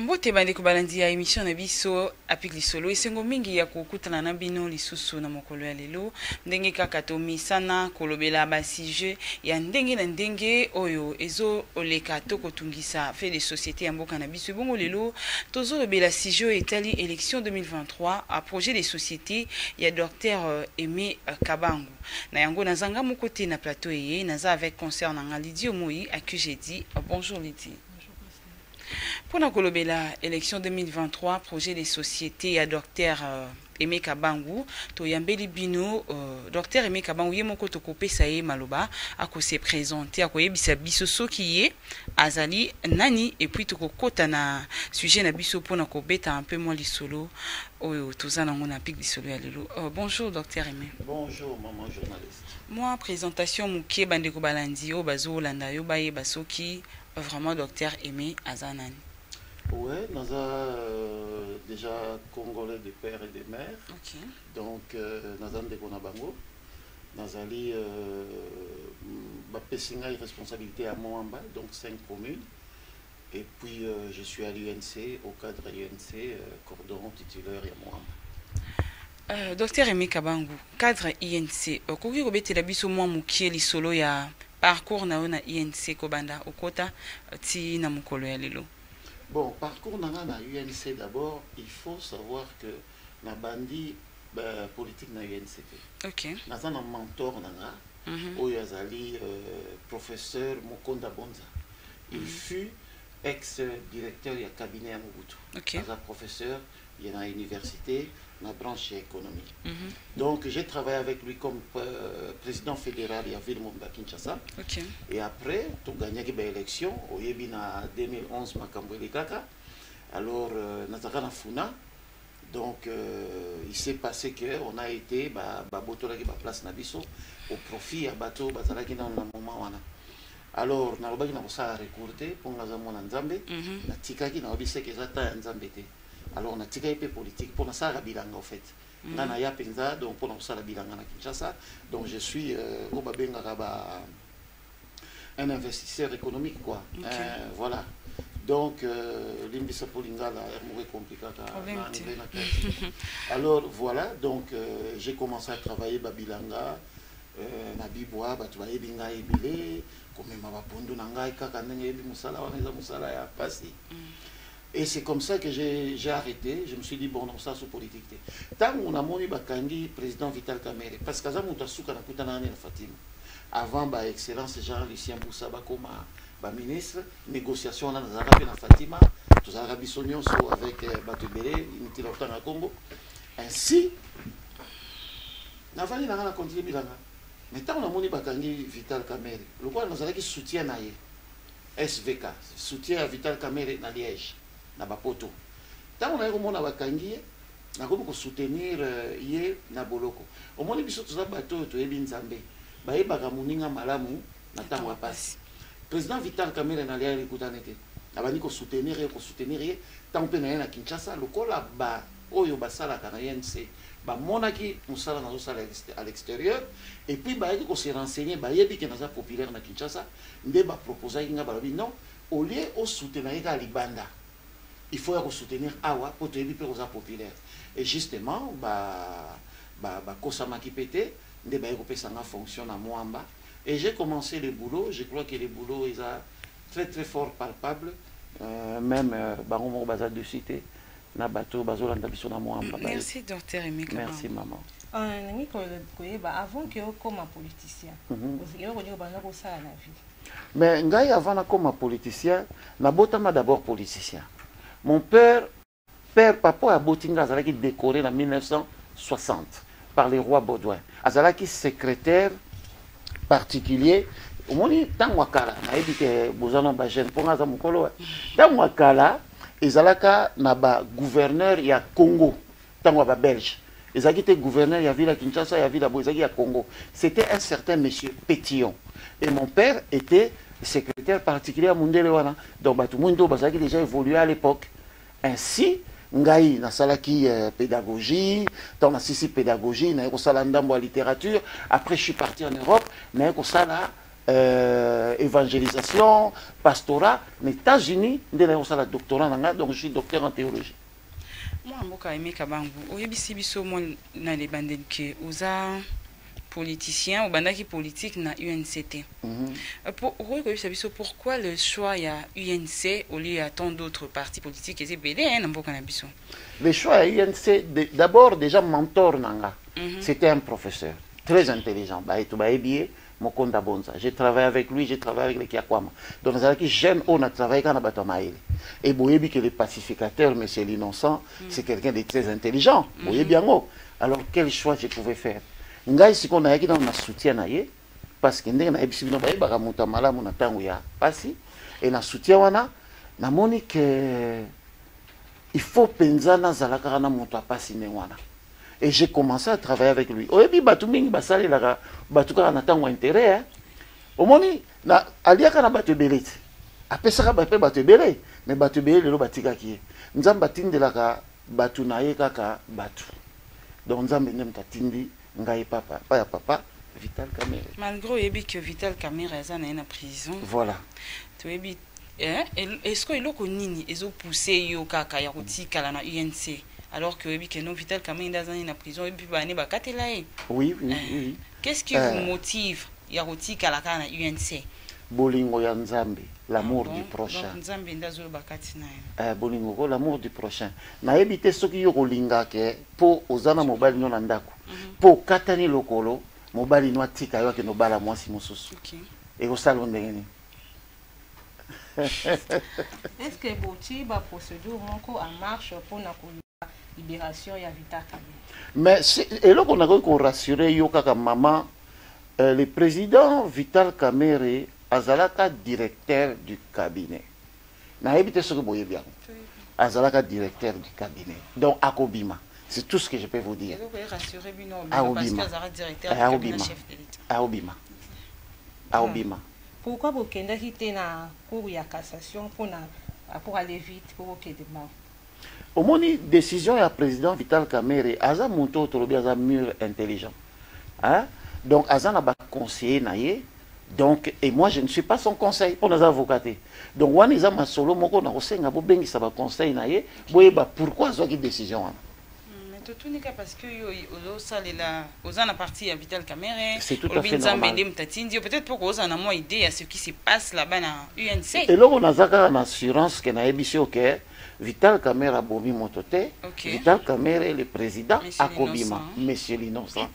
mbote bandeko balandi ya emission na biso apik lisolo esengo mingi ya kokutana na bino lisusu na mokolo ya lelo ndenge kaka tomesana kolobela basujet ya ndenge na ndenge oyo ezoleka to kotungisa fe de société ya mboka na biso ebongo lelo tozolobela sujet oyo etali élection 2023 projet de société ya docteur aimé kabango Na yango naza nga moko te na plateau eye, naza avec consœur na nga Lydie Omoyi à qui j'ai dit bonjour Lydie. Mpo na kolobela election 2023 projet de société ya docteur euh, Aimé Kabangu toyambeli bino euh, docteur Aimé Kabangu ye moko tokopesa ye maloba akose présenter akoyebisa biso soki ye azali nani et puis tokokota na sujet na biso pona kobeta un peu mwa lisolo oyo toza nango na pic lisolo ya lelo uh, bonjour docteur aimé bonjour maman journaliste mwa présentation moke bandeko balandi oyo bazolanda yo bayeba soki vraiment docteur aimé aza nani ouais naza euh, déjà congolais de père et de mère okay. donc euh, naza ndeko na bango Nazali bapesi ngai responsabilite ya Moamba, donc 5 communes. Et puis euh, je suis à l'UNC, au cadre de l'UNC, euh, cordon titulaire et moi. Euh, docteur Aimé Kabangu, cadre INC, okoki kobetela biso mwa mokie lisolo ya parcours na yo na INC kobanda okota euh, ti na mokolo ya lelo. Bon, parcours na nga na UNC d'abord, il faut savoir que na bandi euh, politique na UNCP. Ok. Naza na mentor na nga mm -hmm. oyo azali euh, professeur Mokonda Bonza. Il mm -hmm. fut ex directeur ya cabinet ya Mobutu. Ok. Aza professeur il est dans l'université, ma branche est économie. Mm -hmm. Donc j'ai travaillé avec lui comme euh, président fédéral à Villemomba Kinshasa. Okay. Et après, tout gagné l'élection, au Yébina 2011, Makambo Kaka. alors euh, nazalaka na funa donc euh, il s'est passé que on a été babotolaki ba baplace na biso au profit ya bato bazalaki nano na moment wana alors nalobaki na kosala recours te mpo nga aza mwana nzambe mhm. natikaki nayebi seke eza temps ya nzambe te alors natikaki mpe politique mpo nasalaka bilanga au fait mhm. nga naya mpenza donc mpo na kosala bilanga na kinshasa donc je suis euh, oyo babengaka ba un investisseur économique quoi okay. euh, voilà donc euh, limbisa mpo lingala yango ekomplikaka na anglais na kati alors voilà donc euh, j'ai commencé à travailler babilanga euh, na bibwa bato bayebi ngai ebele komema bapondu na ngai kaka ndenge yebi mosala wana eza mosala ya mpasi mm. Et c'est comme ça que j'ai arrêté, je me suis dit bon non ça c'est politique te. Tango na moni ba kangi président Vital Kamerhe parce que aza mutu asuka na kuta na Fatima. Avant ba excellence Jean Lucien Boussa ba koma ba ministre négociation na nazala pe na Fatima, tozalaka biso nyonso avec euh, bato ebele unité la kutanga Congo. Ainsi navandi nanga na continue bilanga. Mais tango na moni ba kangi Vital Kamerhe, lokola nazalaki soutien na ye. svk soutien ya vital kamerhe na liege na ba poto tango naye komona bakangi ye nakomi ko soutenir ye na boloko omoni biso toza bato oyo toyebi nzambe bayebaka moninga malamu na tango ya pasi president vital kamerhe na liege ekutani te abandi ko soutenir ye ko soutenir ye tango mpe naye na kinshasa lokola ba oyo basalaka na unc bamonaki mosala nazosala à l'exterieur et puis bayaki ko se renseigner bayebi ke naza populaire na kinshasa nde ba proposaki nga balobi non au lieu o soutenir ye kaka libanda il faut ya ko soutenir awa po toyebi pe koza populaire et justement ba ba bakosamaki pe te nde baye kopesa nga fonction na muamba et j'ai commencé le boulot je crois que le boulot eza très très fort palpable euh, même euh, bango moko baza dessus te na bato oyo bazolanda biso na mwamba merci docteur emeka merci maman euh, nangi koyeba avant ke okoma politicien mhm. eloko nini obanda kosala na vie mais ngai avant nakoma politicien nabotama d'abord politicien mon père père papa oyo aboti ngai azalaki décoré na 1960 par le roi baudouin azalaki secrétaire particulier omoni ntango ya kala nayebi te boza na bajeune mpo ngai aza mokolo ntango ya kala ezalaka na ba gouverneur ya congo ntango ya babelge ezalaki te gouverneur ya ville ya kinshasa ya ville ya boye ezalaki ya congo c'était un certain monsieur pétillon et mon père était secrétaire particulier ya mondele wana donc bato moni to bazalaki déjà évolué à l'époque ainsi ngai nasalaki euh, pédagogie ntango nasisi pédagogie naye kosala ndambo ya littérature après je suis parti en europe naye kosala euh, évangélisation, pastorat, na États-Unis, nde na kosala doctorat na nga, donc je suis docteur en théologie. Moi mboka Aimé Kabangu, oyebisi biso moi na le bandeli que oza politicien, obandaki politique na UNCT. Mm -hmm. Pour, okoki koyebisa biso pourquoi le choix ya UNC au lieu ya tant d'autres partis politiques eza ebele hein, na mboka na biso. Le choix ya UNC d'abord déjà mentor nanga. Mm -hmm. C'était un professeur très intelligent, baye to bayebi ye Mokonda Bonza, j'ai travaille avec lui, j'ai travaille avec les Kiakwama. Donc nazalaki jeune oyo na travaille kaka na bato ya mayele. Et boyebi que le pacificateur, monsieur l'innocent, mm. c'est quelqu'un de très intelligent. Mm. Boyebi yango. Alors quel choix je pouvais faire? Ngai sikoyo nayaki nano na soutien na ye parce que ndenge nayebisi bino bayebaka moto ya malamu na ntango ya mpasi e na soutien wana namoni ke il faut mpenza nazala kaka na moto ya mpasi ndenge wana et j'ai commencé à travailler avec lui oyebi bato mingi basalelaka bato kaka na ntango ya intérêt hein? omoni na aliaka na bato ebele ti apesaka mpe bato ebele me bato ebele lelo batikaki ye nzambe atindelaka bato na ye kaka bato donc nzambe nde moto atindi ngai papa pa ya papa vital camere malgré oyebi que vital camere aza na ye na prison voilà toyebi Eh, est-ce que eloko nini ezo pousser yo kaka ya kotikala na UNC alors que oyebi que non Vital Kamerhe nda azani na prison oyebi ba ne bakatela ye. Oui, oui, eh, oui. Qu'est-ce qui eh. vous motive ya kotikala kaka na UNC? Bolingo ya Nzambe, l'amour ah bon? du prochain. Donc Nzambe nda zo bakati na ye. Eh, bolingo ko l'amour du prochain. Nayebi te soki yo kolinga ke po ozana mobali no na ndako. Mm -hmm. Po katani lokolo mobali no atika yo akende obala mwasi mosusu. Okay. Ekosala ndenge nini? est ce que botie ba procédure moko en marche mpo na koluka libération ya vita kabi mais eloko nakoki korassure yo kaka mama euh, le président vital kamere azalaka directeur du cabinet nayebi te soki boyebi yango azalaka directeur du cabinet donc akobima c'est tout ce que je peux vous dire akobima akobima akobima akobima Pourquoi bo kendaki te na cour ya cassation pona rapport aller vite po bo kende mbala. Omoni decision ya president Vital Kamerhe aza mutu oyo tolobi aza mur intelligent hein donc aza na ba conseiller na ye donc et moi je ne suis pas son conseil pona aza avocat te donc wana eza masolo moko na kosenga bobengisa ba conseil na ye boyeba pourquoi azwaki decision wana mais totuni kaka parce que yo ozosalela oza na parti ya vital camere olobi nzambe nde moto atindi yo peut-être mpo ozala na mwa idée ya ce qui se passe là-bas na unc eloko naza kaka na assurance ke nayebisi yo ke vital camere abomi moto te vital camere le président akobima monsieur l'innocent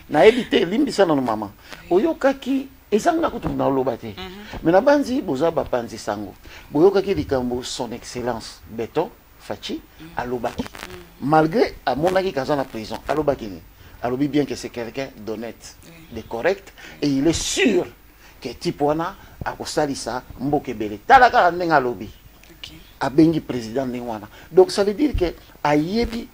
nayebi te elimbisa nano mama oyokaki ezangi na kutu naloba te mhm. mais nabanzi boza bapanzi sango boyokaki likambo son excellence beton Fatshi alobaki malgré amonaki kaza na prison alobaki nini alobi bien que c'est quelqu'un d'honnête de correct et il est sûr que type wana akosalisa mboka ebele tala kaka ndenge alobi abengi président ndenge wana donc ça veut dire que ayebi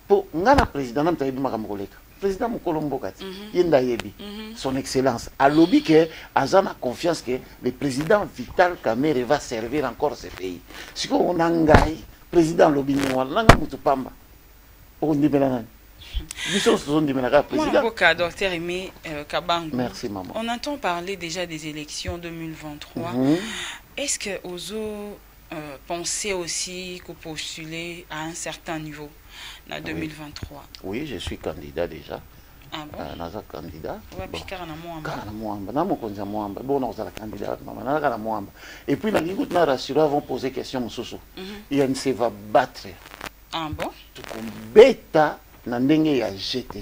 po nga na president nanu toyebi makambo koleka président mokolo mboka ti mhm. ye nde ayebi mhm. son excellence alobi ke aza na confiance ke le président vital kamere va servir encore ce pays sikoyo na ngai président alobi ndenge wana nanga motu pamba okondimela nani biso nyonso tozondimela kaka présidentboka docteur aimé euh, kabango merci maman on entend parler déjà des élections 2023 mm -hmm. est ce que ozo euh, penser aussi que postuler à un certain niveau na 2023 oui, je suis candidat déjà ah bon? euh, naza candidat wapi kaka na mwamba kaka na mwamba na mokonzi ya mwamba bon nakozala candidat mama naza kaka na mwamba et puis nalingi kutu na rassurer avant poser question mosusu mm -hmm. il ne se va battre ah bon tokobeta na ndenge ya je te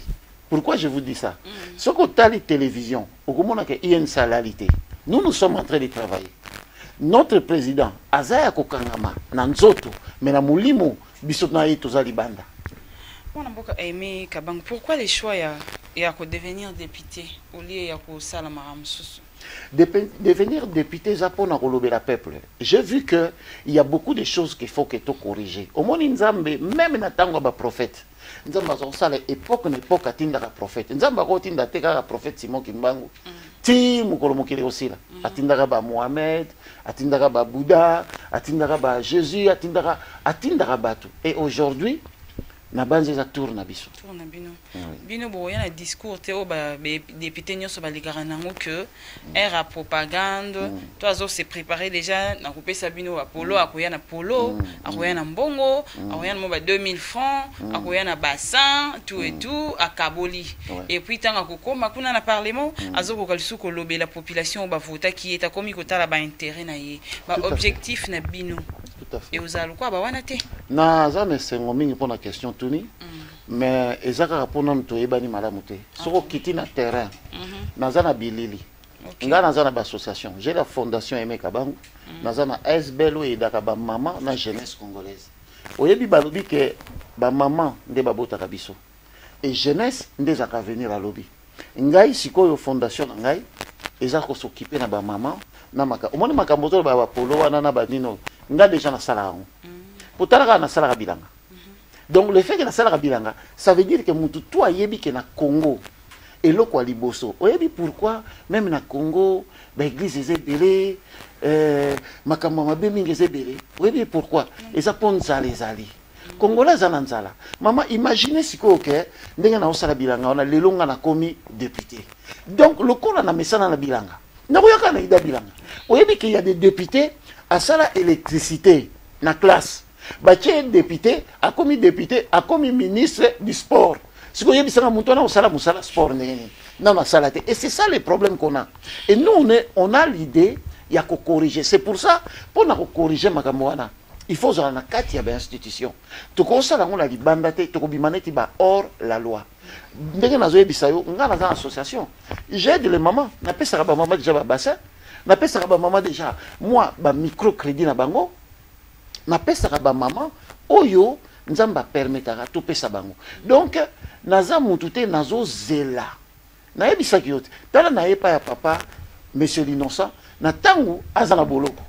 pourquoi je vous dis ça mm. soki otali télévision okomona ke in salali te nous nous sommes en train de travailler notre président aza ya kokangama na nzoto me na molimo biso na ye toza libanda mwana mboka aime kabango pourquoi le choix ya, ya kodevenir député olie ya kosalamaka mosusu devenir député eza mpo na kolobela peuple j'ai vu que il y a beaucoup de choses qu'il faut que to corriger omoni nzambe meme na ntango ya baprophète nzambe aza kosala epoke na epoke atindaka prophète nzambe akotinda te kaka prophète simon kimbangu mm. ti mokolo mokili ekosila mm. atindaka ba mohamed atindaka ba bouddha atindaka ba jésus atindaka atindaka bato et aujourd'hui nabanzi eza tour na biso tour na bino bino bokoya na discours te oyo badepute nyonso balekaka nango que aire ya propagande mm. to azo se préparer déjà na kopesa bino bapolo mm. akoya na polo mm. akoya na mbongo akoya na mwa ba 2000 francs akoya na bassin tout et tout akaboli et puis ntango akokoma kuna na parlement azokoka lisusu kolobela population oyo bavotaki ye takomi kotala baintérêt na ye baobjectif na bino ekozala lokola bawana te naza na esengo mingi mpona question tuni mm. mais eza kaka mpo nanu toyebani malamu te ah, soki okiti na terrain mhm. naza na bilili ngai naza na baassociation j'ai la fondation emeka bango mm. naza na asbel oyo eyedaka bamama na jeunesse congolaise oyebi balobi ke bamama nde babotaka biso et jeunesse nde ezalaka avenir alobi ngai sikoyo fondation na ngai eza kosokipe na bamama na makambo omoni makambo ozoloba ya bapolo wana na banini oyo ngai deja nasala yango mpo mm. tala kaka nasalaka bilanga mm-hmm. donc le fait ke nasalaka bilanga ça veut dire ke motu to ayebi ke na congo eloko ya liboso oyebi pourquoi meme na congo baeglise eza ebele eh, makambo ya mabe mingi eza ebele oyebi pourquoi eza mpo nzala ezali congolais aza na nzala mama imagine sikoyo ke ndenge naosala bilanga wana lelo nga nakomi depute donc lokola na mesana na bilanga nakoyaka na ida bilanga oyebi ke ya de depute asala électricité na classe batie depute akomi depute akomi ministre du sport sikoyo oyebisaka moto wana osala mosala sport ndenge nini nano asala te et c'est ça le problème qu'on a et nous on, est, on a l'idée ya kokorrige c'est pour ça mpo na kokorrige makambo wana il faut ozala na kati ya bainstitution tokosala yango na libanda te tokobima neti ba hors la loi ndenge nazoyebisa yo ngai naza na association j'aide le maman napesaka bamama déjà babassin napesaka bamama déjà mwa bamicrocrédit na bango napesaka bamama oyo nzambe apermetaka topesa bango donc naza mutu te nazozela nayebisaki yo te tala na epa ya papa monsieur l'innocent na ntango aza na boloko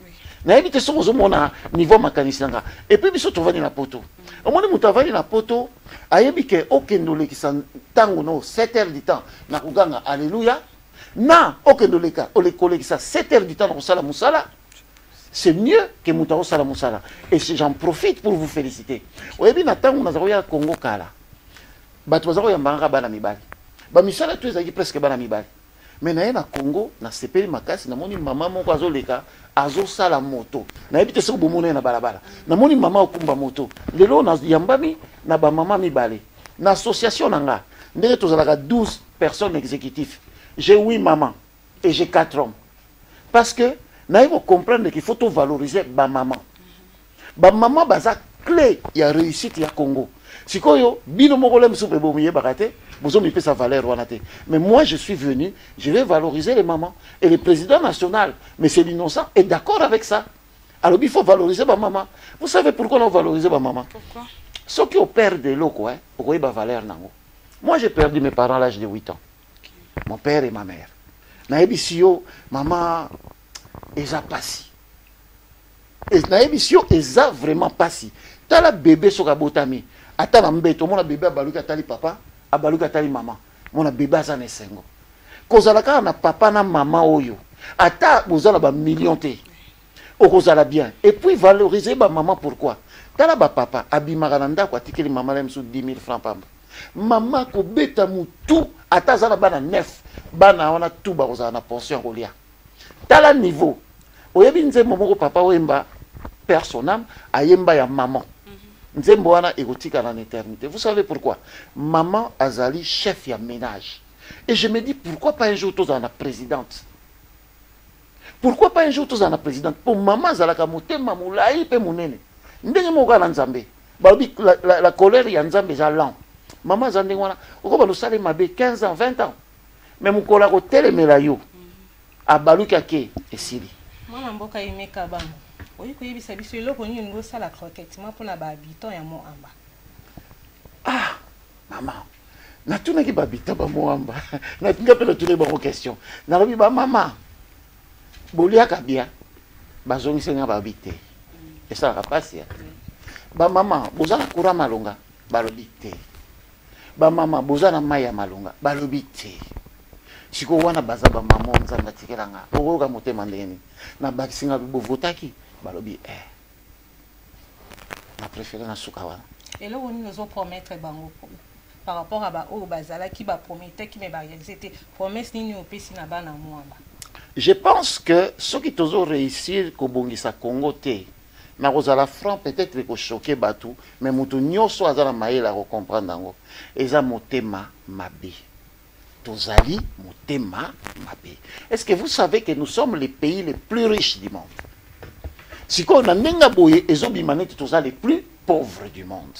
nayebi te soki ozomona niveau makanisi na nga epuis biso tovandi na poto omoni moto avandi na poto ayebi ke okende olekisa ntango no 7 heures du temps na koganga alleluya na okende oleka kolekisa 7 heures du temps na kosala mosala c'est mieux que moto akosala mosala et j'en profite pour vous féliciter oyebi na ntango naza koya congo kala bato baza koyambanga kaka bana mibali bamisala to ezalaki presque bana mibali me naye na congo nasepeli makasi namoni mama moko azoleka azosala moto nayebi te soki bomona ye na balabala namoni mama okumba moto lelo nayambami na bamama mibale na association na nga ndenge tozalaka 12 personnes exécutif j'ai 8 mama et j'ai 4 hommes parce que naye kocomprendre qu'il faut tovalorise bamama ba maman baza clé ya réussite ya Congo sikoyo bino moko lem soupe bo miyebaka te bozo mipesa valeur wana te mais moi je suis venu je vais valoriser les mamans et le président national mais c'est l'innocent est d'accord avec ça alors il faut valoriser ba maman vous savez pourquoi on valoriser ba maman pourquoi ceux qui opèrent de l'eau quoi okoyeba hein, valeur nango moi j'ai perdu mes parents à l'âge de 8 ans mon père et ma mère nayebisi yo mama eza pasi nayebisi yo eza vraiment mpasi tala bebe soki abotami ata na mbeto omona bebe abaluki atali papa abaluki atali mama mona bebe aza na esengo kozala kaka na papa na mama oyo ata boza na bamillion te okozala bien epuis valorise bamama pourquoi tala bapapa abimaka na ndako atikeli mama na ye mosusu 10 000 franc pamba mama kobeta motu ata aza na bana 9 bana wana tu bakozala na pension ya kolia tala niveau oyebi nzembo moko papa wemba père son âme ayemba ya maman mhm. nzembo wana ekotikala na éternité vous savez pourquoi maman azali chef ya ménage et je me dis pourquoi pas un jour tozala na présidente pourquoi pas un jour tozala na présidente mpo mama azalaka motema molai mpe monene ndenge moko kaka na nzambe balobi la, la, la colère ya nzambe eza lent mama aza ndenge wana okoba losala ye mabe 15 ans 20 ans mais mokolo akotelemela yo abaluki ake esili mwana mboka yemeka bango oyi koyebisa biso eloko nini olingi osala croquettement mpo na bahabitant ya moamba ah mama natunaki bahabitant ba moamba natinga mpe natunaki bango question nalobi bamama boliaka bia bazongisi nga babi te esalaka mpasi ya bamama bozala kura malonga balobi te ba mama boza na mai ya malonga balobi te sikoyo wana baza bamama oyo nzambe atikela nga okoyoka motema ndenge nini nabakisi nga bovotaki balobi e eh. na préféré na suka wana eloko nini ozopromettre bango par rapport ya baoyo bazalaki baprometaki me barealise te promesse nini opesi na bana mwamba je pense que soki tozo réussir kobongisa congo te na kozala franc peut-être eko choquer batu mais mutu nyoso aza na mayele ako comprendre yango eza motema mabe tozali motema mabe est-ce que vous savez que nous sommes les pays les plus riches du monde sikoyo na ndenge boye ezobima neti toza les plus pauvres du monde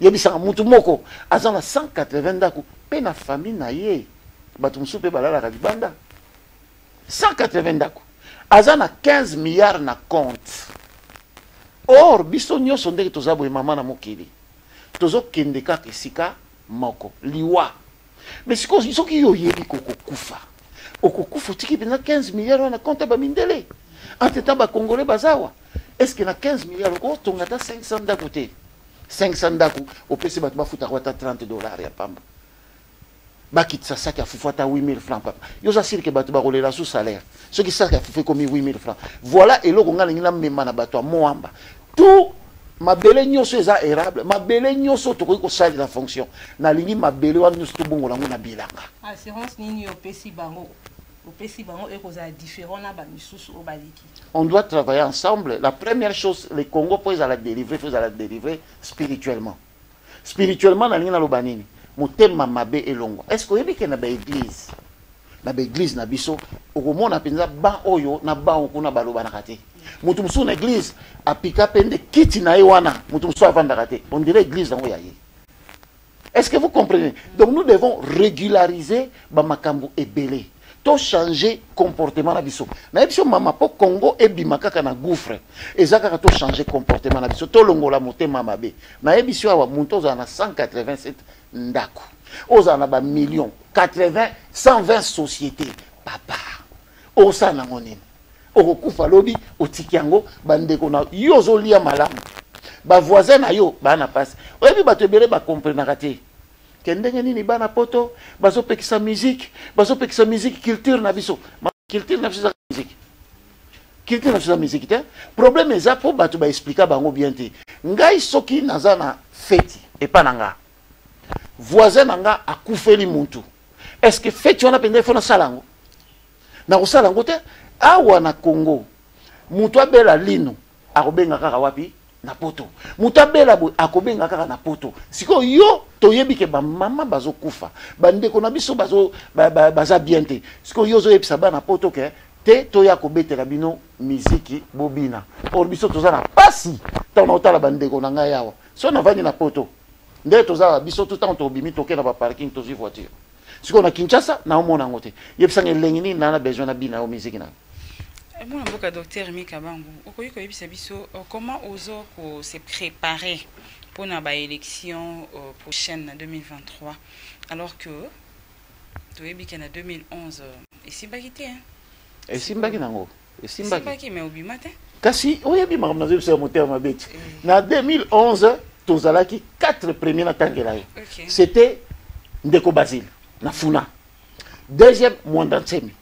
yebisaka mutu moko aza na 180 ndako mpe na famille na ye bato mosusu mpe balalaka libanda 180 ndako aza na 15 milliard na compte or biso nyonso ndenge toza boye mama na mokili tozokende kaka esika moko liwa mais sikoyo soki yo oyebi kokokufa okokufa otiki mpenza 15 milliard wana konte bamindele entre temps bacongolais baza awa est ce que na 15 milliard okotonga ata 500 ndako te 500 ndako opesi bato bafutaka ata 30 dollar ya pamba bakitisa saki ya fufu ata 8000 franc papa yo oza sirke bato bakolela su salaire soki saki ya fufu ekomi 8000 franc voilà eloko ngai alingi namema na bato ya moamba tout mabele nyonso eza erable mabele nyonso tokoki kosalela fonction nalingi mabele wana nyonso tobongola yango na bilanga assurance nini opesi bango opesi bango ekozala différent na bamisusu oyo baleki on doit travailler ensemble la première chose le congo mpo ezala délivrer mpo ezala délivrer spirituellement spirituellement nalingi naloba nini motema mabe elongwa est ce que oyebi ke na baeglise na baeglise na biso okomona mpenza ban oyo na ban oyo kuna balobanaka te moto mosusu na eglise apika mpe nde kiti na ye wana moto mosusu avandaka te on dirait eglise yango ya ye est ce que vous comprenez donc nous devons régulariser bamakambo ebele to changer comportement na biso na biso mama po Congo ebima kaka na gouffre eza kaka to changer comportement na biso to longola motema mabe na ye biso awa muntu oza na 187 ndaku oza na ba millions 80 120 sociétés papa osa na ngonene okokufa lobi otiki yango bandeko na yo ozolia malamu ba voisin na yo bana pasi oyebi bato ebele ba comprenaka te Te ndenge nini bana poto bazo pekisa musique, bazo pekisa musique culture na biso. Ma culture na biso za musique. Culture na biso za musique te. Problème eza po bato ba expliquer bango bien te. Ngai soki naza na feti epa na nga. Voisin na nga akufeli muntu. Est-ce que feti wana penza ifo na sala yango? Na kosala yango te. Awa na Congo, mutu abela lino akobenga kaka wapi na poto moto abela boye akobenga kaka na poto sikoyo yo toyebi ke bamama bazokufa bandeko na biso bazo, ba, ba, baza bien te sikoyo yo ozoyebisa bana poto ke te toya kobetela bino miziki bobina or biso toza na pasi ntango naotala bandeko na ngai awa so navandi na poto nde toza biso tout ntango tobimi toke na baparking tozwi voiture sikoyo na kinshasa naomona yango te yebisanga elengi nini naa na besoin na bina yo miziki nayo eh, mwana mboka docteur mika bangu okoki koyebisa biso euh, comment ozo ko se préparer mpo na baélection euh, prochaine na 2023 alors que toyebi ke na 2011 esimbaki te esimbaki nango esimbaki mais obima te kasi oyebi makambo nazoyebi biso ya motema mabe ti eh. na 2011 tozalaki 4 premier natangela ye c'était ndeko basile na funa deuxième mwanda nsemi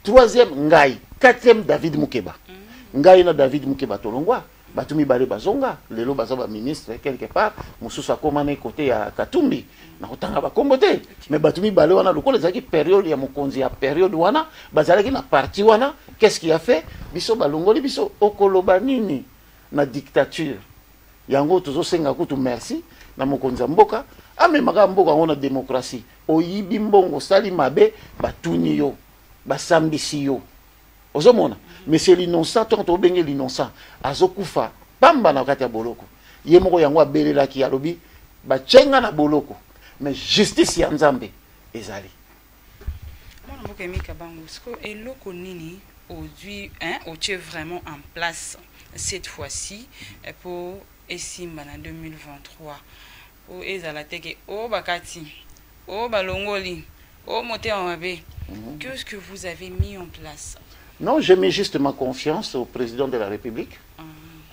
troisième ngai quatrième david mukeba mm. ngai na david mukeba tolongwa bato mibale bazonga lelo baza baministre quelque part mosusu akoma na kote ya katumbi na kotanga bakombo te mais bato mibale wana lokola ezalaki periode ya mokonzi ya periode wana bazalaki na parti wana qu'est-ce qui a fait biso balongoli biso okoloba nini na dictature yango tozosenga kutu merci na mokonzi ya mboka amemaka mboka yango na demokrasi oyibi mbongo osali mabe batuni yo basambisi yo ozomona monsieur l'innocent to moto obenge l'innocent azokufa pamba na kati ya boloko ye moko yango abelelaki alobi batye nga na boloko mais justice ya nzambe ezali mwana mboka emika bango siko eloko nini ozwi otye vraiment en place cette fois-ci mpo eh, esimba na 2023 O ezala te ke o bakati, o balongoli, o motema mabe. Mhm. Qu'est-ce que vous avez mis en place? Non, j'ai mis juste ma confiance au président de la République. Ah.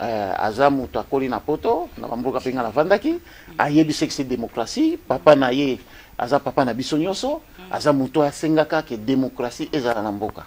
Euh, aza moto akoli na poto na bamboka mpe ngai navandaki mhm. ayebi seki se démocratie papa na ye aza papa na biso nyonso mhm. aza moto asengaka ke démocratie ezala na mboka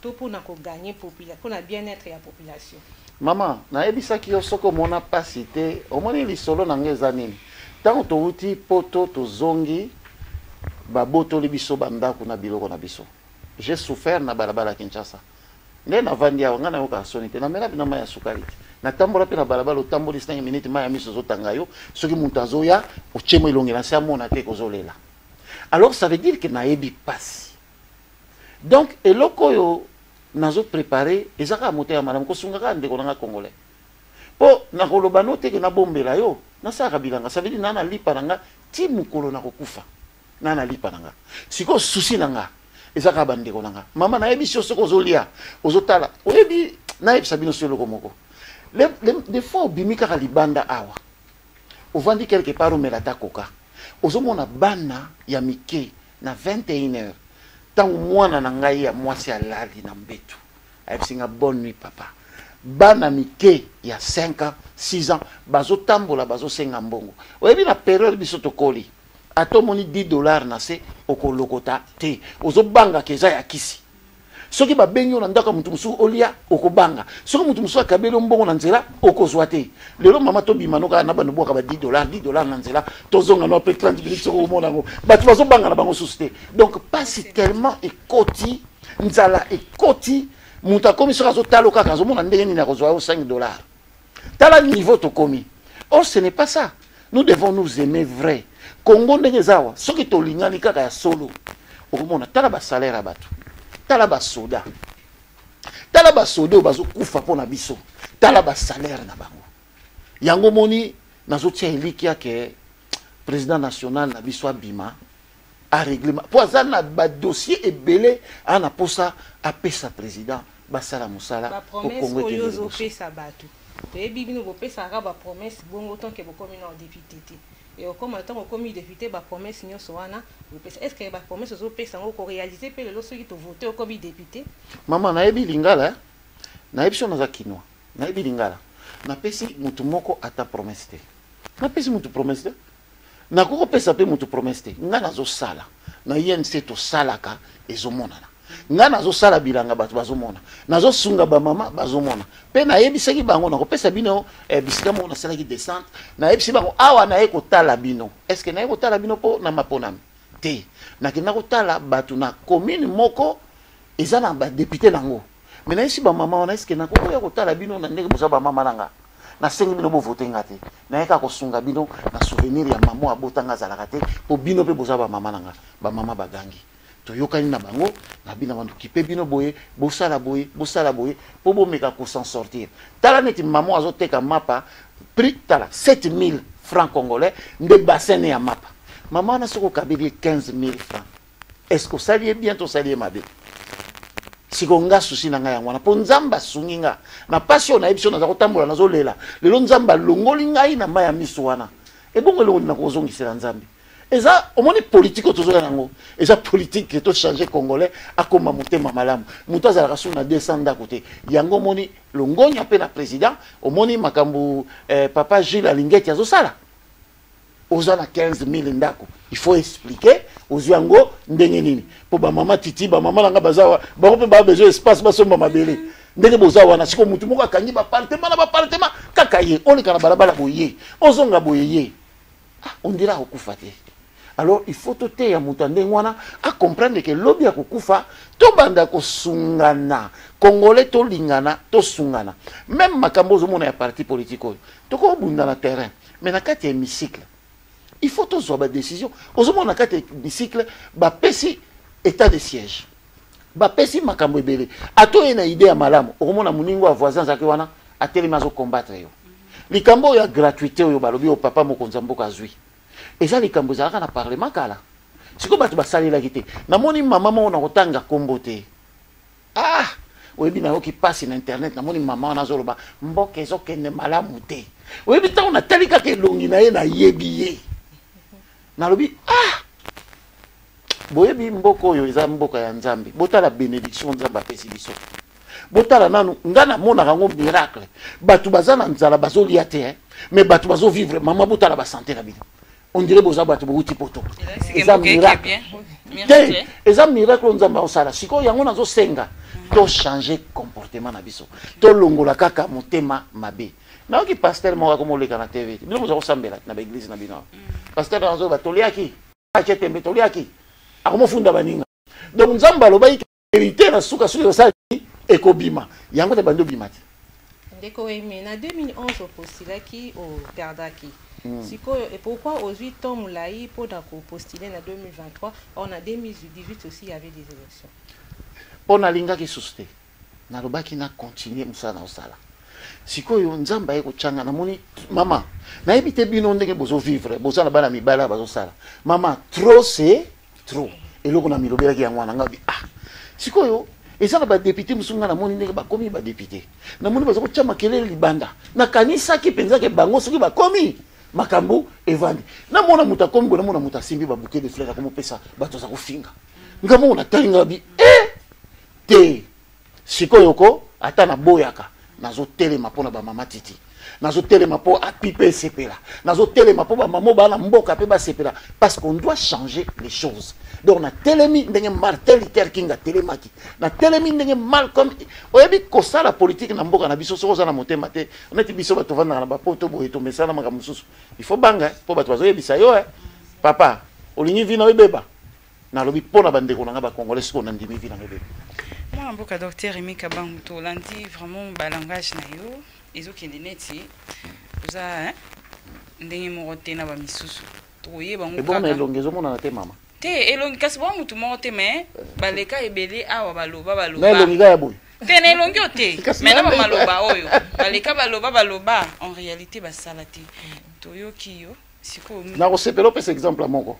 To pona ko gagner population, pona bien etre ya population. Maman, nayebisaki yo soki omona pasi te, omoni lisolo na nga eza nini? Tango towuti poto tozongi babotoli biso ba ndaku na biloko na biso. J'ai souffert na balabala ya Kinshasa. Nde navandi awa, nga nayokaka soni te, namela bino mayi ya sukali te. Natambola pe na balabala, otamboli cinq minutes mayi ya miso ezotanga yo, soki mutu azoya otie mwa elongi na se amona te ke ozolela. Alors ça veut dire que nayebi pasi. donc eloko oyo nazo prepare eza kaka motema malamu kosunga kaka ndeko na nga congolais mpo nakoloba no teke nabombela yo nasalaka bilanga savedi na nalipa na nga ti mokolo nakokufa na nalipa na nga sikoyo susi na nga eza kaka bandeko na nga mama nayebisi yo soki ozolia ozotala oyebi nayebisa bino so eloko moko de fois obimi kaka libanda awa ovandi quelque part omela ata koka ozomona bana ya mike Na 21 heures, tango mwana na ngai ya mwasi alali na mbetu, ayebisi nga bonne nuit papa. Bana mike ya 5 ans, 6 ans bazotambola bazosenga mbongo. Oyebi na periode biso tokoli, ata omoni 10 dollars na se okolokota te, ozobanga ke eza ya kisi. soki babengi yo na ndako ya moto mosusu olia okobanga soki moto mosusu akabeli yo mbongo na nzela okozwa te lelo mama tobima no kaka na bando bwaka ba 10 dollar 10 dollar na nzela tozonga no mpe 30 minutes soki omona yango bato bazobanga na bango susu te donc mpasi tellement ekoti nzala ekoti moto akomi soki azotala yo kaka azomona ndenge nini akozwa yo 5 dollar tala niveau tokomi or oh, ce n'est pas ça nous devons nous aimer vrai congo ndenge eza awa soki tolingani kaka ya solo okomona tala basalaire ya bato tala basoda tala basoda oyo bazokufa mpo na biso tala basalaire na bango yango omoni nazotia elikya ke président national na biso abima a règlement po aza na ba dossier ebele a na posa apesa président basala mosala ba promesse oyo ozopesa bato toyebi bino bopesaka ba promesse bongo tanke bokomi na député te e okoma ntango okomi député ba promesse nyonso wana opesa est ce que ba promesse ozopesa yango okorealise mpe lelo soki tovote okomi député mama nayebi lingala eh? nayebi so naza kinois nayebi lingala napesi motu moko ata promesse te napesi motu promesse te nakoki kopesa mpe moto promese te ngai nazosala na inc tosalaka ezomonana ngai nazosala bilanga bato bazomona nazosunga bamama bazomona mpe nayebisaki bango nakopesa bino eh, bisika moko nasalaki descente nayebisi bango awa naye kotala bino estce naye kotala bino mpo na maponami te nakenda kotala bato na commune moko eza na badepute na yango mais nayesi bamama wana eske nakokoya kotala bino na ndenge boza bamama na nga nasengi bino bovote nga te naye kaka kosunga bino na souvenir ya mama oyo abota nga azalaka te mpo bino mpe boza bamama na nga bamama bagangi toyokani na bango na bino bantu kipe bino boye bosala boye bosala boye mpo bomeka kosan sortir tala neti mama oyo azoteka mapa prix tala 7000 francs congolais nde bassin ya mapa mama wana soki okabeli ye 15000 francs est-ce que osali ye bien to osali ye mabe siko nga susi na ngai yango wana mpo nzambe asungi nga na mpasi oyo nayebi so naza kotambola nazolela lelo nzambe alongoli ngai na mai ya miso wana ebongo eloko nini nakozongisela nzambe eza omoni politike oyo tozoya yango eza politike tochange congolais akoma motema malamu moto azalaka suu na 200 ndako te yango omoni longonya mpe na président omoni makambo eh, papa gile alingeti azosala oza na 15000 ndako il faut expliquer ozwi yango ndenge nini mpo bamama titi bamama na ngai baza wa bango mpe baa besoin espace basomba mabele ndenge boza wana sikoyo motu moko akangi bapartema na bapartema kaka ye oleka na balabala boye ozonga boye ye ah, ondire akokufa te alors il faut toteya moto ya ndenge wana acomprendre ke lobi ya kokufa tobanda kosungana congolais tolingana tosungana meme makambo ozomona ya parti politique oyo tokobunda na terrain mais na kati ya hémicycle il faut tozwa badécision ozomona na kati ya hémicycle bapesi état de siège bapesi makambo ebele ata oye na idée ya malamu okomona moningo ya voisin azalaki wana atelemi azokombattre yo likambo oyo ya gratuité oyo balobi oyo papa mokonzi ya mboka azwi eza likambo ezalaka na parlement kala sikoyo bato basalelaki te namoni mama moko na kotanga nkombo te ah oyebi nayoki mpasi na internet namoni mama wana azoloba mboka ezokende malamu te oyebi ntango natali kaka elongi na ye nayebi ye nalobi ah boyebi mboka oyo eza mboka ya nzambe botala benediction nzambe apesi biso botala nanu ngai namonaka yango miracle bato baza na nzala bazolia te eh? mais bato bazovivre mama botala basante na bino on dirait boza bato bowuti poto eza miracle te eza miracle oyo nzambe aosala sikoyo yango nazosenga tochange comportement na biso tolongola kaka motema mabe nayoki pasteur moko akomoleka na tv te bino boza kosambela na baeglise na bino pasteur nazoyeba toliaki atie tembe toliaki akomofunda baninga donc nzambe alobaki verite na suka soki osala nini ekobima yango te bandi obima te ndeko eme na 2011 opostilaki operdaki Mm. sikoyo et pourquoi ozwi temps molai mpo na kopostile na 2023 or na 2018 aussi y avait des élections mpo nalingaki susu te nalobaki na continue mosala na osala sikoyo nzambe aye kotyanga namoni mama nayebi te bino ndenge bozovivre boza na bana mibale bazosala mama trop se trop eloko na milobelaki yango wana ngai ah sikoyo eza na badepute mosusu ngai namoni ndenge bakomi badepute namoni baza kotya makelele libanda nakanisaki mpenza ke bango soki bakomi makambo evandi namona moto akomi boye namona moto asimbi babuke de fleur akomopesa bato aza kofinga ngai moko natali ngai bi e eh, te sikoyo ko ata naboyaka nazotelema mpo na bamama titi nazotelema mpo api mpe esepela nazotelema mpo bamama oyo bana mboka mpe basepela parce qu'on doit changer les choses donc natelemi ndenge martin luther king atelemaki natelemi ndenge malcolm oyebi kosala politike na mboka na biso soki oza na motema te neti biso bato vandaka na bapoto boye tomesana makambo mosusu il faut banga mpo bato bazoyebisa yo eh, papa olingi vino ebeba nalobi mpo na bandeko na ngai bacongolais sikoyo nandimi vi nango ebele mwana mboka docteur emi kabangu tolandi vraiment balangage na yo ezokende neti oza ndenge moko te na bamisusu tokoyeba ngo ebona elongi ezomonana te mama te elongi kasi boa motu moko te mais baleka ebele awa baloba baloba na elongi kaka ya boye te na elongi oyo te mai na bamaloba oyo baleka baloba baloba en réalité basala te toyoki yo sikoyo nakosepela opesa exemple moko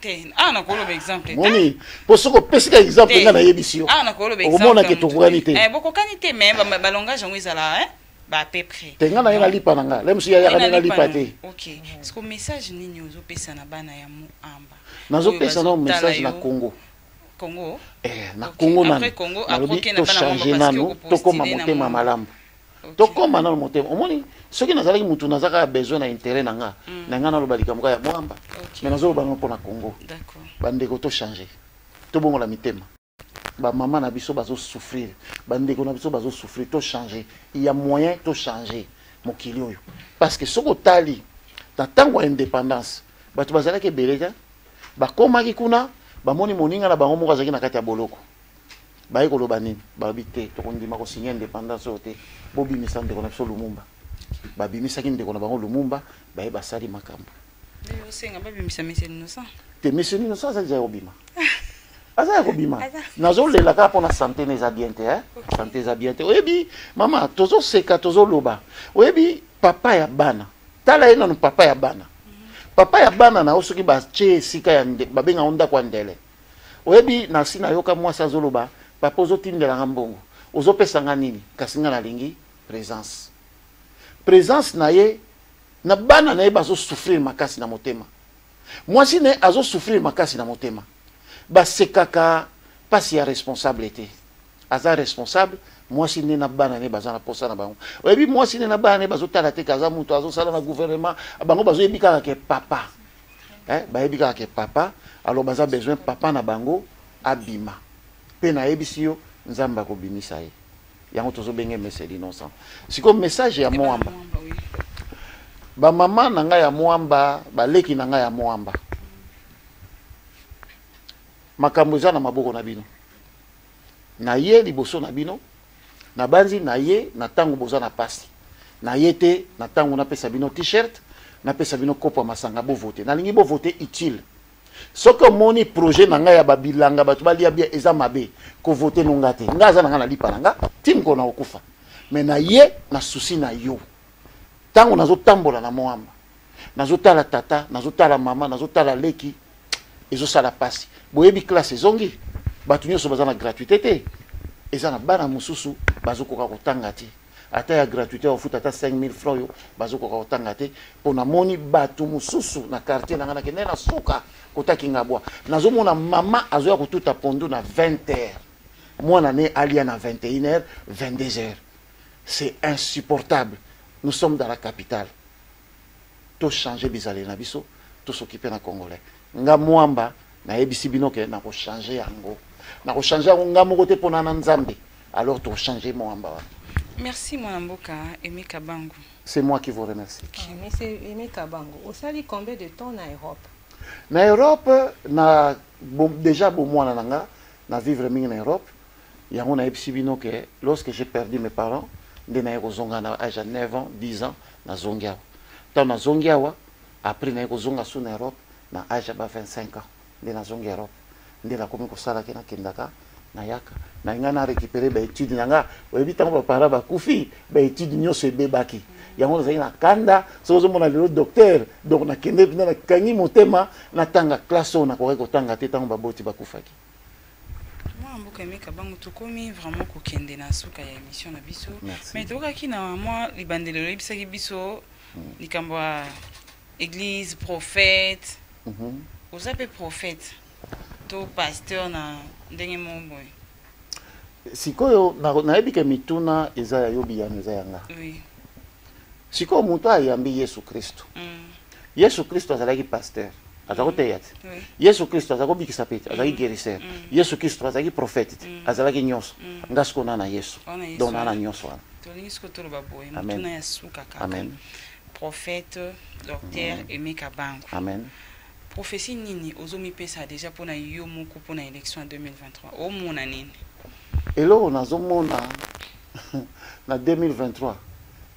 te awa nakoloba exemple moni mpo soki opesi ka exemple ngai nayebisi yo awa nakoloba okomona ke tokokani te eh, bokokani te mais balongage yango ezala eh, ba à peu près te ngai naye nalipa na ngai lemosu yayaka nde nalipa te ok siko message nini ozopesa na bana ya moamba nazopesa nao message na congo congo eh, na congo nalobi tochange nano tokoma motema malamu tokoma nano motema omoni soki nazalaki mutu naza kaka besoin na intérêt na nga mm. na nga naloba likambo kaka ya mwamba mais nazoloba nango mpo na congo bandeko tochange tobongola mitema bamama na biso bazosouffrir bandeko na biso bazosouffrir tochange ya moyen tochange mokili oyo parce que soki otali na ntango ya indépendance bato bazalaki ebele te bakomaki kuna bamoni moninga na bango moko azalaki na kati ya boloko Baye koloba nini? Balobi te tokondima ko signer independance oyo te, bobimisa ndeko na biso Lumumba. Babimisaki ndeko na bango Lumumba, baye basali makambo. Yo osenga babimisa Monsieur Innocent? Te, Monsieur Innocent aza deja kobima. aza ya kobima nazolela kaka mpona sante na eza bien te eh? sante eza bien te oyebi mama tozoseka tozoloba oyebi papa ya bana tala ye nano papa ya bana papa ya bana na yo soki batye esika ya babengaka ndako ya ndele oyebi nasi nayoka mwasi azoloba papa ozotindela nga mbongo ozopesa nga nini kasi nga nalingi présence présence na ye na bana na ye bazosouffrir makasi na motema mwasi na ye azosouffrir makasi na motema basekaka mpasi ya responsable te aza responsable mwasi nde na bana ne baza na posa na bango oyebi mwasi nde na bana ne bazotala te ke aza moto azosala na gouvernement bango bazoyebi kaka ke papa eh, bayebi kaka ke papa alors baza besoin papa na bango abima mpe nayebisi yo nzambe akobimisa ye yango tozobenge mese l'innocent sikoyo message ya moamba bamama na ngai ya moamba baleki na ngai ya moamba makambo eza na maboko na bino na ye liboso na bino nabanzi na ye na ntango boza na pasi na ye te na ntango napesa bino t-shirt napesa bino kopo ya masanga bovote nalingi bovote utile soki omoni projet na ngai ya babilanga bato balia bia eza mabe kovote no nga te nga aza na ngai na lipa na nga ti mokolo na kokufa me na ye na susi na yo ntango nazotambola na moamba nazo tala tata nazo tala mama nazo tala leki ezo sala pasi boyebi classe ezongi bato nyonso baza na gratuité te eza na bana mosusu bazokoka kotanga te ata ya gratuité ofuta ata 5000 franc oyo bazokoka kotanga te mpo namoni bato mosusu na quartier na ngai nakende na suka kotaki nga bwa nazomona mama azoya kotuta pondu na 20 heures mwana ne alia na 21 heures 22 heures c'est insupportable nous sommes dans la capitale to changer bizaleli na biso to s'occuper na congolais nga mwamba nayebisi bino ke nako changer yango nako changer yango nga moko te pona na nzambe alors to changer mwamba wana Merci mwana mboka Aimé Kabangu. C'est moi qui vous remercie. Ah, mais c'est Aimé Kabangu. Osali combien de temps na Europe? Na Europe na bon, déjà bomwana na nga na vivre mingi na Europe Yango nayebisi bino que lorsque j'ai perdu mes parents nde naye kozonga na age ya 9 ans 10 ans nazongi awa ntango nazongi awa après naye kozonga su na europe na age ya ba 25 ans nde nazongi europe nde nakomi kosalaki nakendaka nayaka na ngai na récupérer baétude na ngai oyebi ntango bapara bakufi baétude nyonso ebebaki yango nazalaki na kanda soki ozomona lelo docteur donc nakende mpena nakangi motema natanga classe oyo nakokaki kotanga te ntango baboti bakufaki mwa mboka emeka bango tokomi vraiment kokende na suka ya émission na biso mais tokaki na mwa libandeli oyebisaki biso hmm. likambo ya église prophète mhm. oza mpe prophète to pasteur na ndenge moko boye sikoyo nayebi ke mituna eza ya yo biyano eza ya nga oui. sikoyo moto oyo ayambi yesu kristo mm. yesu kristo azalaki pasteur aza koteya te yesu kristo aza kobikisa mpe te azalaki guérisseur yesu kristo azalaki prophète te azalaki nyonso nga sikoyo na na yesu donc na na nyonso wana tolingi sikoyo toloba boye motuna ya suka kaka amen prophète docteur aimé kabango amen prophétie nini ozomipesa déjà mpo na yo moko mpo na élection ya 2023 omona nini eloko nazomona na 2023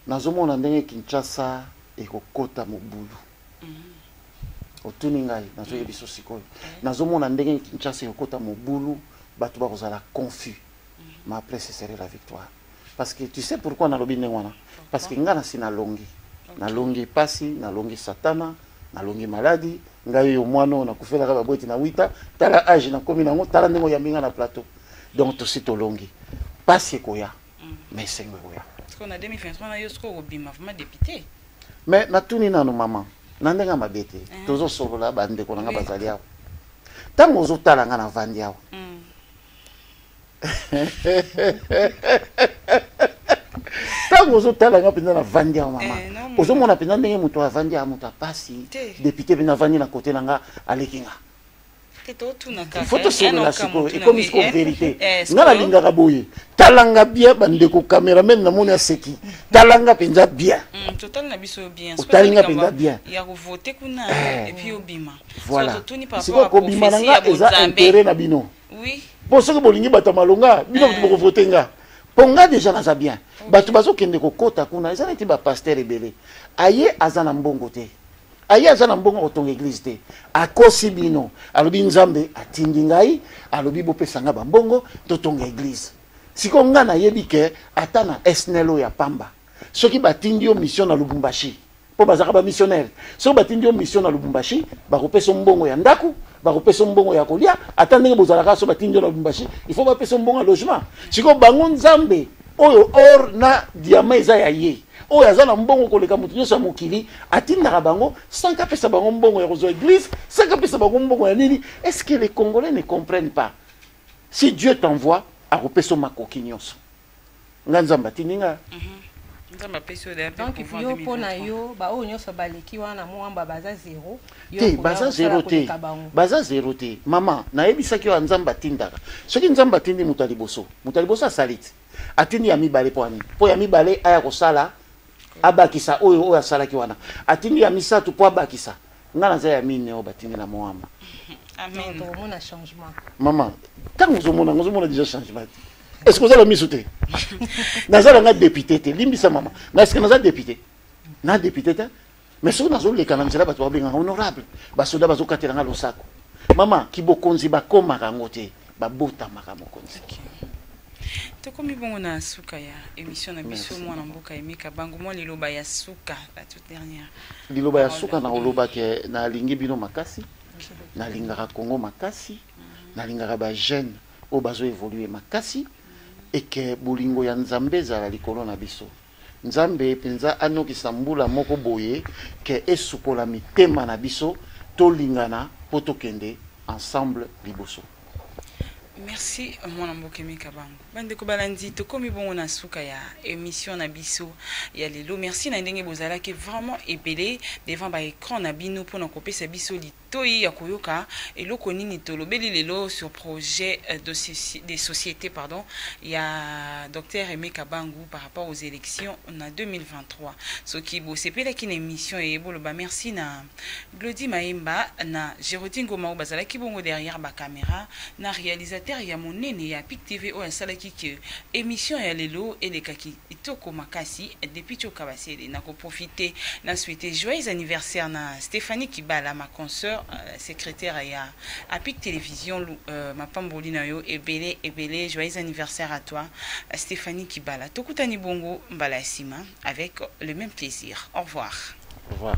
nazomona ndenge kinshasa ekokota mobulu otuni ngai nazoye biso sikoyo nazomona ndenge kinshasa ekokota mobulu bato bakozala confus ma après ce serait la victoire parce que tu sais pourquoi nalobi ndenge wana parce que ngai nasi nalongi nalongi mpasi nalongi satana nalongi maladi ngai oyo mwana oyo nakufelaka babweti na wita tala age nakomi nango tala ndenge oyambi ngai na plateau donc tosi tolongi mpasi ekoya mm. mais esengo ekoya na 2023 na yo soki okobima vraimen depute mais natuni nano mama na ndenge ya mabe te eh. tozosolola bandeko na ngai bazali awa ntango ozotala ngai navandi awa mm. ntango ozotala nga mpenza navandi ya mama eh, ozomona mpenza ndenge moto avandi ya moto apasi depute mpenza avandi na kote na nga aleki nga fo tosolola eh, sikoyo ekomi sikoyo verité eh, nga nalingaka boye talanga bien bandeko cameraman namoni aseki talanga mpenza bien mm, otali nga mpenza bien voilà sikoyo kobima na nga eza intere na bino oui bon soki bolingi bato ya malonga bino bato eh. bokovote nga mpo nga deja naza bien bato bazokende kokota kuna eza neti bapaster ebele aye aza na mbongo te aye aza na mbongo kotonga eglize te akosi bino alobi nzambe atindi ngai alobi bopesa ngai bambongo totonga eglize sikoyo ngai nayebi ke ata na snl oyo ya pamba soki batindi yo mission na lubumbashi mpo bazalaka bamissionnaire soki batindi yo mission na lubumbashi bakopesa yo mbongo ya ndako bakopesa yo mbongo ya kolia ata ndenge bozalaka so batindi yo na lubumbashi il faut bapesa yo mbongo ya logement sikoyo bango nzambe oyo or na diama eza ya ye oyo aza na mbongo koleka moto nyonso ya mokili atindaka bango sanke apesa bango mbongo ya kozwa eglise sanke apesa bango mbongo ya nini est ce que les congolais ne comprennent pas si dieu t'envoie akopesa yo makoki nyonso nga nzambe atindi nga donc yo mpo na yo baoyo nyonso baleki wana mwamba baza zero te baza zero te baza zero te mama nayebisaki yo nzambe atindaka soki nzambe atindi moto ya liboso moto ya liboso asali te atindi ya mibale mpo ani mpo ya mibale aya kosala abakisa oyo oyo asalaki wana atindi ya misato mpo abakisa nga naza ya mine oyo batindi na moamba tokomona changement mama ntango ozomona yango ozomona déjà changement te estce ozala miso te naza na nga député te limbisa mama na estce naza député na député te mais soki nazoleka na nzela bato babengaka honorable basoda bazokatela nga losako mama kibokonzi bakomaka yango te babotamaka mokonzi okay. tokomi bongo na suka ya émission na biso mwana mboka emeka bango mwa liloba ya suka la toute dernière liloba ya suka na koloba ke nalingi bino makasi nalingaka congo makasi mhm. nalingaka bajeune oyo bazo évolue makasi eke bolingo ya nzambe ezala likolo na biso Nzambe penza anokisa mbula moko boye que esukola mitema na biso tolingana po tokende ensemble liboso. Merci mwana mboke mika bango bandeko balandi tokomi bongo na suka ya emission na biso ya lelo merci na ndenge bozalaki vraiment ebele devant ba écran na bino pona kopesa biso To yi ya koyoka eloko nini to lobeli lelo sur projet de societe pardon ya Docteur Aime Kabangu par rapport aux elections na 2023. Soki bo sepelaki na emission eye bo loba merci na Glody Mayemba na Gerodi Ngoma oyo bazalaki bongo derrière ba cameras na realisateur ya monene ya Pic TV oyo asalaki que emission ya lelo elekaki Kitoko makasi depuis tio kabasele na ko profiter na souhaiter joyeux anniversaire na Stephanie Kibala ma consoeur euh, secrétaire ya Apic Télévision euh, mapamboli na yo ebele ebele joyeux anniversaire à toi euh, Stephanie Kibala tokutani bongo mbala ya sima avec le même plaisir au revoir au revoir